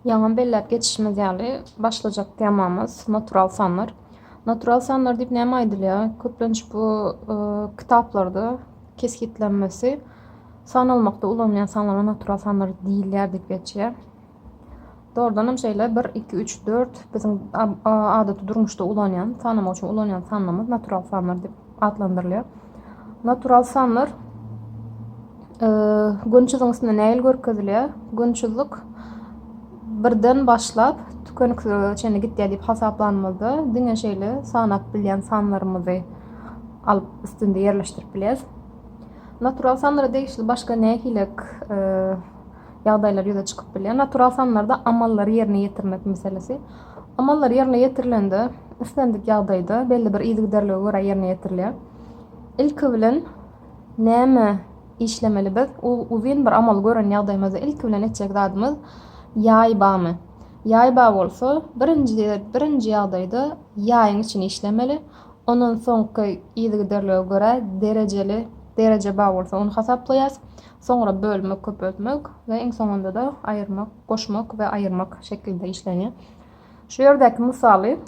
Ýaňam belläp geçişimiz ýaly, başlajak temamyz natural sanlar. Natural sanlar diýip näme aýdylýar? Köplenç bu kitaplarda kesgitlenmesi sanalmakda ulanylýan sanlara natural sanlar diýilýär diýip geçýär. Dogrudan hem şeýle 1, 2, 3, 4 biziň adaty durmuşda ulanýan, sanamak üçin ulanýan sanlarymyz natural sanlar diýip atlandyrylýar. Natural sanlar gönçüzüň üstünde näil görkezilýär? Gönçüzlik birden başlap tükeniksizlige çenli gitýär diýip hasaplanymyzda diňe şeýle sanap bilýän sanlarymyzy alyp üstünde ýerleşdirip bilýäris. Natural sanlara degişli başga nähilek e, ýagdaýlar ýüze çykyp bilýär. Natural sanlarda amallary ýerine ýetirmek meselesi. Amallar ýerine ýetirilende, islendik ýagdaýda belli bir yzygiderlige görä ýerine ýetirilýär. Ilki bilen näme işlemeli biz? Uzyn bir amaly gören ýagdaýymyzda ilki bilen etjek zadymyz ýaý bamy. Ýaý bar bolsa, birinji birinji ýagdaýda ýaýyň içini işlemeli. Ondan soňky yzygiderlige görä derejeli dereje bar bolsa ony hasaplaýas. soňra bölmek, köpeltmek we iň soňunda-da aýyrmak, goşmak we aýyrmak şekilde işlenýär. Şu ýerdäki mysaly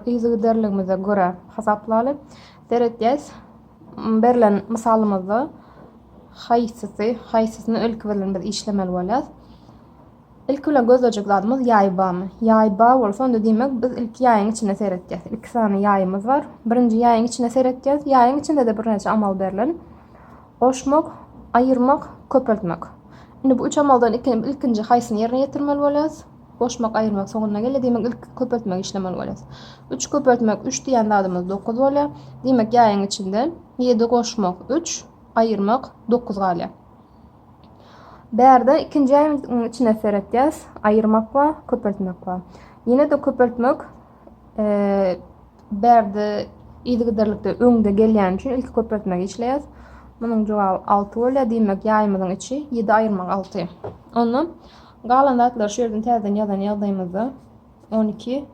yzygiderligimize görä hasaplaly. Seretýäs, berlen mysalymyzda haýsysy, haýsysyny öňki bilen biz işlemeli bolýarys. Ilki bilen gözlejek zadymyz ýaý bamy. Ýaý ba bolsa, onda diýmek, biz ilki ýaýyň içine seretýäs. Iki sany ýaýymyz bar. Birinji ýaýyň içine seretýäs. Ýaýyň içinde-de birnäçe amal berlen. Goşmak, aýyrmak, köpeltmek. Indi bu üç amaldan ilkinji haýsyny ýerine ýetirmeli bolýas? Goşmak, aýyrmak soňunda gelýär. Diýmek, ilki köpeltmegi işlemeli bolýas. Üç köpeltmek üç diýen zadymyz dokuz bolýar. Diýmek, ýaýyň içinde ýedi goşmak üç, aýyrmak dokuz galýar. Bärde ikinji äýniň içine seretýäs. Aýyrmak bar, köpeltmek bar. Ýene-de köpeltmek bärde yzygiderlikde öňde gelýän üçin ilki köpeltmegi işleýäs. Munuň jogaby 6 bolýar. Diýmek, ýaýymyzyň içi 7 aýyrmak 6. Onda galan zatlary şu ýerden täzeden ýazan ýagdaýymyzda 12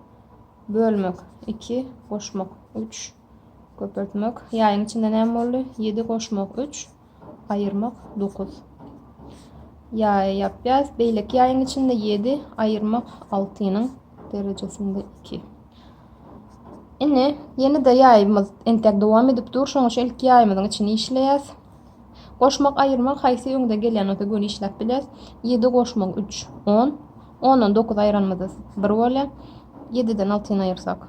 bölmek 2 goşmak 3 Köpeltmek, ýaýyň içinde näme boldy? Ýedi goşmak üç, aýyrmak dokuz. Ýaýy ýapýas. Beýleki ýaýyň içinde ýedi, aýyrmak altynyň derejesinde iki. Ine, ýene-de ýaýymyz entek dowam edip dur. Şoň üçin ilki ýaýymyzyň içini işleýäs. Goşmak, aýyrmak haýsy öňde gelýän bolsa göni işläp bilýäs. Ýedi goşmak üç, on. Ondan dokuz aýyranymyz bir bolýar. Ýediden altyny aýyrsak.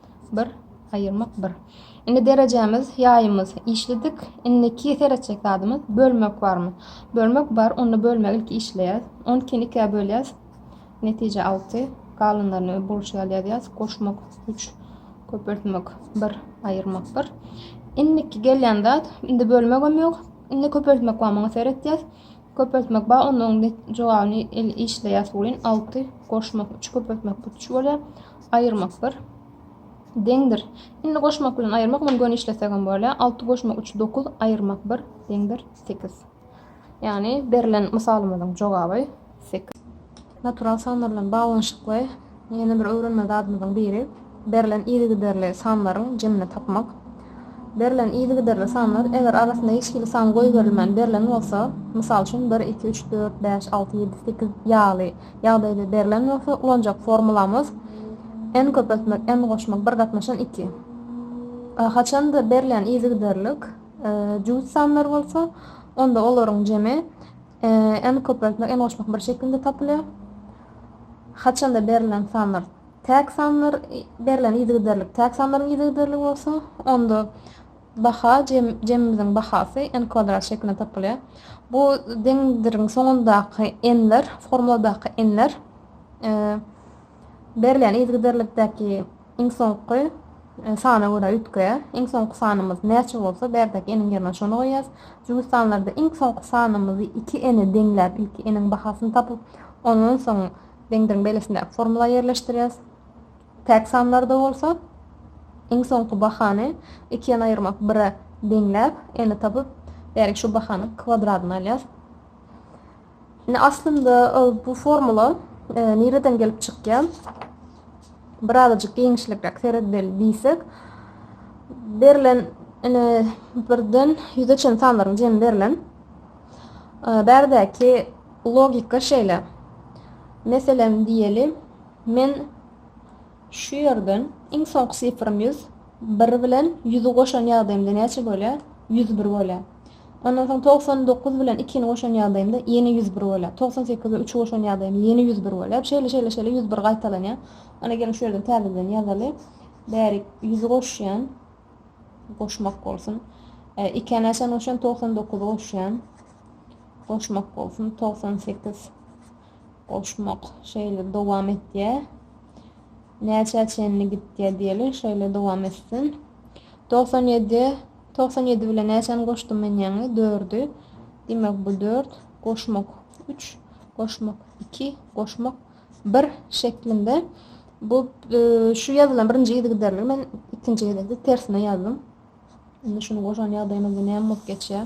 Bir, aýyrmak bir. Indi derejämiz, ýaýymyz, işledik. Indiki seretjek zadymyz, bölmek barmy? Bölmek bar, onda bölmegi ilki işleýäs. On ikini ikä bölýäs. Netije alty. Galanlaryny we bolşy ýaly ýazýas. Goşmak üç. Köpeltmek bir, aýyrmak bir. Indiki gelýän zat, indi bölmegem ýok. Indi köpeltmek bar, muňa seretýäs. Köpeltmek bar onda oň jogabyny el işleýär suwlin alty goşmak üç köpeltmek put üç bolýar aýyrmak bir deňdir indi goşmak bilen aýyrmak muny göni işlesek hem bolýar alty goşmak üç dokuz aýyrmak bir deňdir sekiz ýagny berlen mysalymyzyň jogaby sekiz Natural sanlar bilen baglanyşykly ýene bir öwrenme zadymyzyň biri, berlen yzygiderli sanlaryň jemini tapmak. Berlen yzygiderli sanlar, eger arasynda hiç hili san goýberilmän berlen bolsa, mysal üçin, bir, iki, üç, dört, bäş, alty, ýedi, sekiz ýaly ýagdaýda berlen bolsa, ulanjak formulamyz, n köpeltmek, n goşmak bir gatnaşan iki. Haçanda berlen yzygiderlik jübüt sanlar bolsa, onda olaryň jemi. N-i köpeltmek, n-i goşmak bir şekilde tapylýar. Haçanda berlen sanlar täk sanlar, berlen yzygiderlik täk sanlaryň yzygiderligi bolsa, onda baha, jemimiziň bahasy n kwadrat şeklinde tapylýar. Bu deňizdiriň soňundaky n-ler, formuladaky n-ler, Berilýän yzgiderlikdäki iň soňky sana görä üýtge. Iň soňky sanymyz näçe bolsa, bärdäki eniň ýerine şony goýýas. Jübüt sanlarda iň soňky sanymyzy iki ene deňläp, ilki eniň bahasyny tapyp, ondan soň deňdiriň beýlesindäki formula ýerleşdirýäs. Täk sanlarda bolsa, iň soňky bahany iki ene aýyrmak bire deňläp, eni tapyp, bärik şu bahanyň kwadradyny alýas. Indi aslynda e, bu formula e, nireden gelip çykýar? Birazajyk giňişlikräk seredeli diýsek, berlen ine birden ýüze çen sanlaryň jemi berlen. E, bärdäki logika şeýle. Meselem diýeli, men şu ýerden iň soňky sifrym 100, 1 bilen 100-i goşan ýagdaýymda näçe bolýar? 101 bolýar. Ondan soň togsan dokuz bilen ikini goşan ýagdaýymda ýene ýüz bir bolýar. Togsan sekiz bilen üçi goşan ýagdaýymda ýene ýüz bir bolýar. Şeýle, şeýle, şeýle ýüz bir gaýtalanýar. Ana, geliň şu ýerden täzeden ýazaly. Bärik ýüzi goşýan. Goşmak bolsun. Ikä näçäni goşýan? Togsan dokuzy goşýan. Goşmak bolsun. Togsan sekiz. Goşmak şeýle dowam etýä. Näçä çenli gitýä diýeli, şeýle dowam etsin. Togsan ýedi, togsan ýedi bilen näçäni goşdum men ýaňy? Dördi. Diýmek bu dört, goşmak üç, goşmak iki, goşmak bir şeklinde. Bu e, şu ýazylan birinji yzygiderligi men ikinji gezekde tersine ýazdym. Indi şuny goşan ýagdaýymyzda näme bolup geçýär?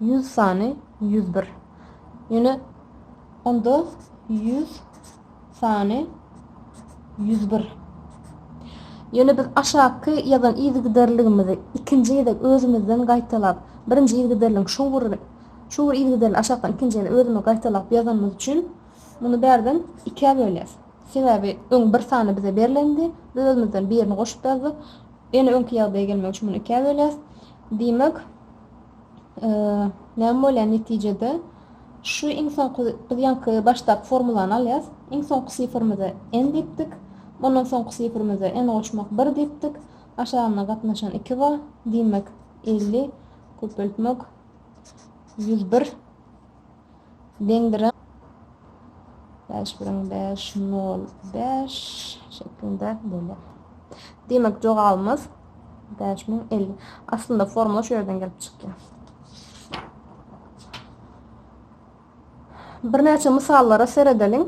Ýüz sany ýüz bir. Ýöne onda ýüz sany ýüz bir. Ýöne biz aşakky ýazan yzygiderligimizi ikinji gezek özümizden gaýtalap, birinji yzygiderligiň şu bir şu bir yzygiderligi aşakdan ikinji gezek özümiz gaýtalap ýazanymyz üçin muny bärden ikä bölýäs. Sebäbi öň bir sany bize berlendi, biz özümizden birini goşup ýazdyk. Ýene öňki ýagdaýa gelmek üçin muny ikä bölýäs. Diýmek, näme bolýar netijede? Şu iň soňky, biz ýaňky başdaky formulany alýas. Iň soňky sifrimize n diýipdik. Ondan soňky sifrimize n goşmak bir diýipdik. Aşagyna gatnaşan iki bar. Diýmek, elli köpeltmek ýüz bir. deňdiräp, bäş biriň bäş nol bäş şeklinde bolýar. Diýmek, jogabymyz bäş müň elli. Aslynda formula şu ýerden gelip çykýar. Birnäçe mysallara seredeliň.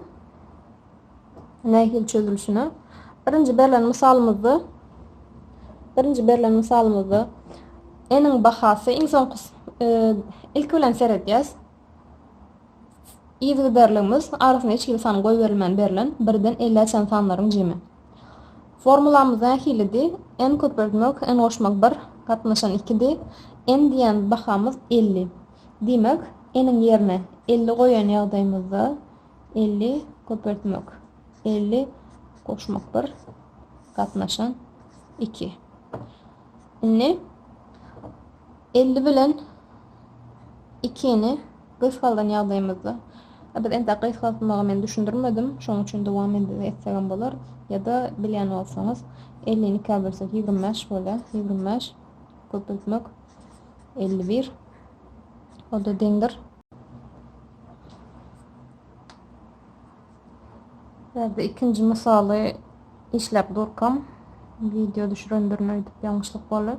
Nähili çözülişine? Birinji berlen mysalymyzda birinji berlen mysalymyzda n-iň bahasy iň soňky ilki bilen seredýäs. Yzygiderligimiz arasyna hiç hili san goýberilmän berlen birden ellä çenli sanlaryň jemi. Formulamyz nähilidi? n köpeltmek, n goşmak bir, gatnaşan ikidi. n diýen bahamyz elli. Diýmek, n-iň ýerine elli goýan ýagdaýymyzda elli köpeltmek elli goşmak bir gatnaşan iki indi elli bilen ikini gysgaldan ýagdaýymyzda biz enda gysgaltmagy men düşündirmedim şonuň üçin dowam etsegem bolar ya da bilýän bolsaňyz elli iki bölsek ýigrimi bäş bolýar ýigrimi bäş köpeltmek elli bir o da deňdir Bärde ikinji mysaly işläp durkam video düşüren birine aýdyp ýalňyşlyk boldy.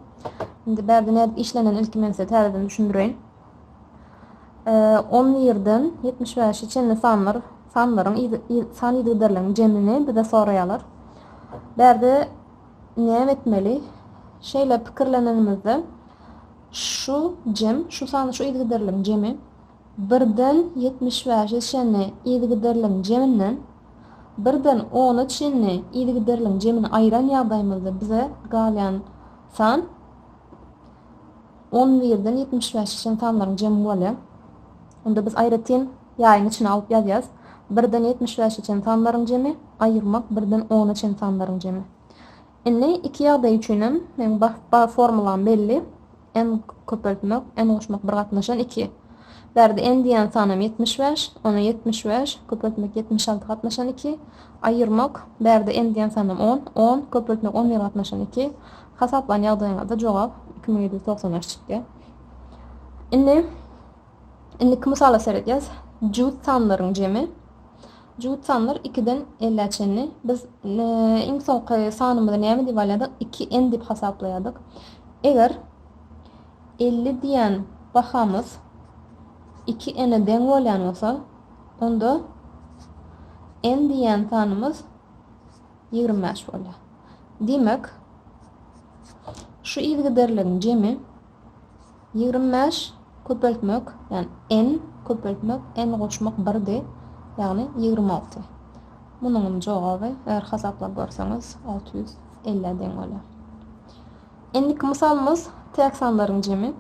Indi bärde nädip işlenen ilki men size täzeden düşündireýin. 10 ýerden 75-e çenli sanlar sanlaryň san ýygyderleriniň jemini bize soraýarlar. Bärde näme etmeli? Şeýle pikirlenenimizde Şu jem, şu sany şu yzgiderligiň jemi, birden ýetmiş bäşe çenli yzgiderligiň jeminden birden ona çenli yzgiderligiň jemini aýyran ýagdaýymyzda bize galýan san on birden ýetmiş bäşe çenli sanlaryň jemi bolýar. Onda biz aýratyn ýaýyň içine alyp ýazýarys. Birden ýetmiş bäşe çenli sanlaryň jemi aýyrmak birden ona çenli sanlaryň jemi. Indi iki ýagdaý üçinem meň bar formulam belli, n köpeltmek, n goşmak bir gatnaşan iki. Bärde n diýýän sanam ýetmiş bäş, ona ýetmiş bäş, köpeltmek ýetmiş alty gatnaşan iki, aýyrmak, bärde n diýýän sanam on, on, köpeltmek on bir gatnaşan iki, hasaplan ýagdaýyňyzda jogap iki müň ýedi ýüz togsan bäş çykýar. Indi. Indiki mysala seredýäs. Juft sanlaryň jemi. Juft sanlar ikiden ellä çenli. Biz iň soňky sanymyzy näme diýip alýardyk? Iki n diýip hasaplaýardyk. Eger elli diýen bahamyz iki n-e deň bolýan bolsa, onda n diýen sanymyz ýigrimi bäş bolýar. Diýmek, şu yzygiderligiň jemi. Ýigrimi bäş köpeltmek, ýagny n, köpeltmek n goşmak birdi, ýagny ýigrimi alty. Munuňam jogaby, eger hasaplap görseňiz, alty ýüz elli-ä deň bolýar. Indiki mysalymyz täk sanlaryň jemi,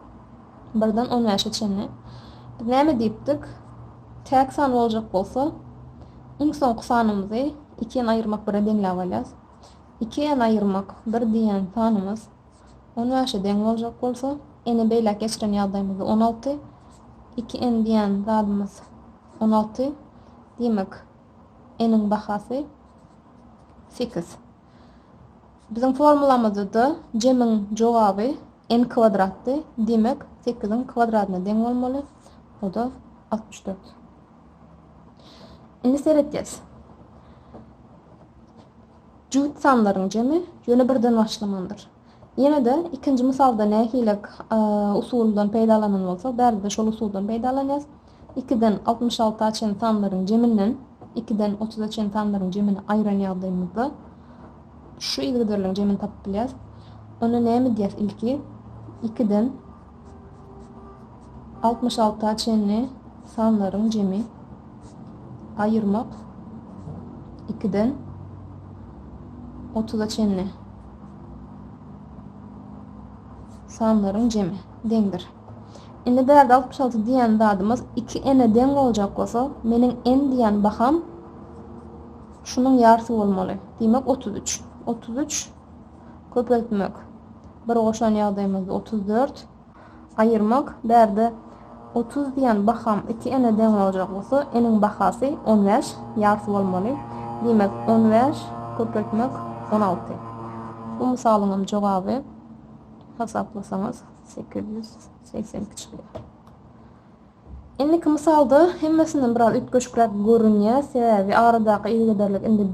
birden on bäşe çenli. Biz näme diýipdik? Täk san boljak bolsa, iň soňky sanymyzy iki n aýyrmak bire deňläp alýas. Iki n aýyrmak bir diýýän sanymyz On bäşe deň boljak bolsa, ene beýläk geçiren ýagdaýymyzda on alty, iki en diýýän zadymyz on alty, diýmek, n-iň bahasy sekiz. Biziň formulamyzda-da jemiň jogaby n kwadratdy, diýmek, sekiziň kwadradyna deň bolmaly, o-da altmyş dört. Indi seredýäs. Juft sanlaryň jemi ýöne birden başlamandyr. Ýene-de ikinji mysalda nähili usuldan peýdalanan bolsak, bärde-de şol usuldan peýdalanýarys. Ikiden altmyş alta çenli sanlaryň jeminden ikiden otuza çenli sanlaryň jemini aýyran ýagdaýymyzda şu yzgiderligiň jemini tapyp bilýäris. Onda näme edýäris ilki? Ikiden Altmyş alta çenli sanlaryň jemi aýyrmak ikiden otuza çenli sanlaryň jemi deňdir. Indi bärde altmyş alty diýen zadymyz iki n-e deň boljak bolsa, meniň n diýen baham şunuň ýarsy bolmaly. Diýmek, otuz üç. Otuz üç Köpeltmek. Bir goşan ýagdaýymyzda otuz dört. Aýyrmak. Bärde otuz diýen baham iki ene deň boljak bolsa, eniň bahasy on bäş, ýarysy bolmaly. Diýmek, on bäş köpeltmek on alty. Bu mysalyňam jogaby hasaplasaňyz sekiz ýüz segsen iki çykýar. Indiki mysalda hemmesinden biraz üýtgeşikräk görünýär, sebäbi aradaky yzygiderlik indi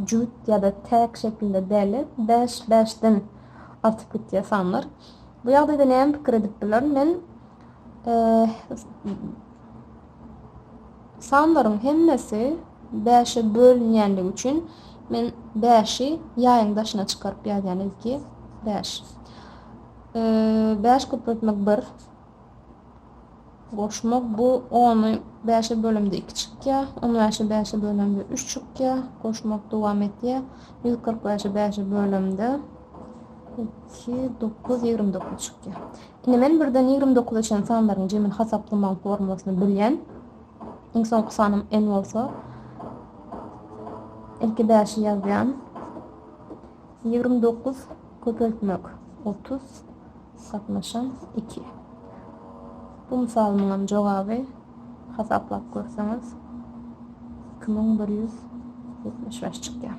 jübüt ýa-da täk şekilde däl-de, bäş, bäşden artyp gitýär sanlar. Bu ýagdaýda näme pikir edip bilerin? Men sanlaryň hemmesi bäşe bölünýänligi üçin men bäşi ýaýyň daşyna çykaryp ýazýan, ilki bäş. Bäş köpeltmek bir. Goşma bu ony bäşe bölende iki çykýar, on bäşe bäşe bölende üç çykýar. Goşmak dowam etýär. Ýüz kyrk bäşe bäşe bölende iki, dokuz, ýigrimi dokuz çykýar. Indi men birden ýigrimi dokuza çenli sanlaryň jemini hasaplamagyň formulasyny bilýän. Iň soňky sanym n bolsa, ilki bäşi ýazýan. Ýigrimi dokuz köpeltmek otuz. Gatnaşan iki. Bu mysalymyňam jogaby hasaplap görseňiz iki müň bir ýüz ýetmiş bäş çykýar.